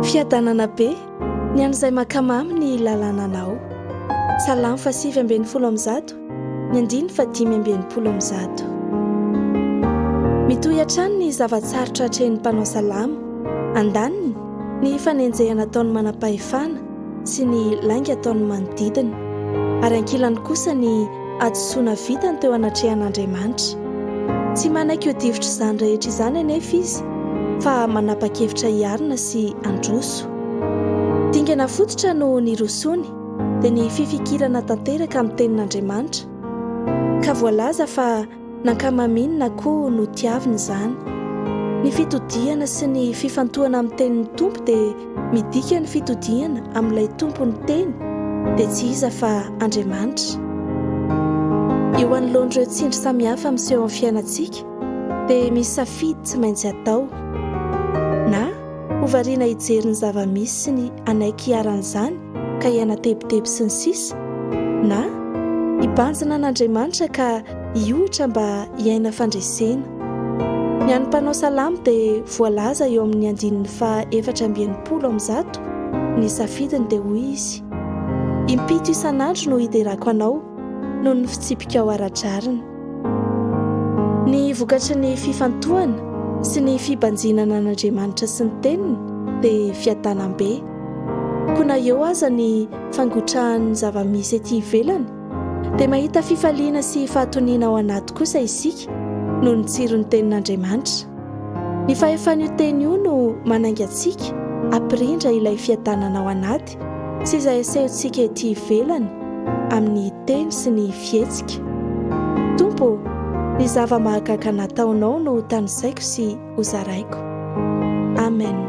Fiadanana be ny an'izay mankamamy ny lalànanao. Salamo fahasivy ambin'ny folo amby zato, ny andininy fahadimy amby enimpolo amby zato. Mitohy hatrany ny zava-tsarotra atrehin'ny mpanao salamo, andaniny, ny fanenjehana ataon'ny manam-pahefana, sy ny lainga ataon'ny manodidina, ary ankilany kosa ny hadisoana vitany teo anatrehan'Andriamanitra. Tsy manaiky ho difotr'izany rehetra izany anefa izy, fa manapa-kevitra hiarina sy handroso. Dingana fototra no nirosoany, dia ny fifikirana tanteraka amin'ny Tenin'Andriamanitra, ka voalaza fa. nankamaminy na koa notiaviny izany. Ny fitodihana sy ny fifantohana amin'ny tenin'ny Tompo dia midika ny fitodihana amin'ilay Tompon'ny teny dia tsy iza fa Andriamanitra. Eo anoloan'ireo tsindry samihafa miseho amin'ny fiainantsika dia misy safidy tsy maintsy atao. Na. Ho variana hijery ny zava-misy sy ny hanaiky hiharan'izany ka hihanatebiteby sy ny sisa Na hibanjina an'Andriamanitra ka hiohitra mba hiaina fandresena. Ny an'ny mpanao salamo dia voalaza eo amin'ny andininy faha efatra amby enimpolo amin'ny zato ny safidiny dia hoy izy, Impito isan'andro no hiderako anao noho ny fitsipikao ara-drariny. Ny vokatry ny fifantohana sy ny fibanjinana an'Andriamanitra sy ny Teniny dia fiadanam-be. Koa na eo aza ny fangotrahan'ny zava-misy ety ivelany, dia mahita fifaliana sy fahatoniana ao anaty kosa isika noho ny tsiron'ny Tenin'Andriamanitra. Ny fahefan'io Teny io no manainga antsika hampirindra ilay fiadanana ao anaty. Malagasy sy izay asehontsika ety ivelany amin'ny teny sy ny fihetsika. Tompo ô, ny zava-mahagaga nataonao no hotanisaiko sy hozaraiko. Amen.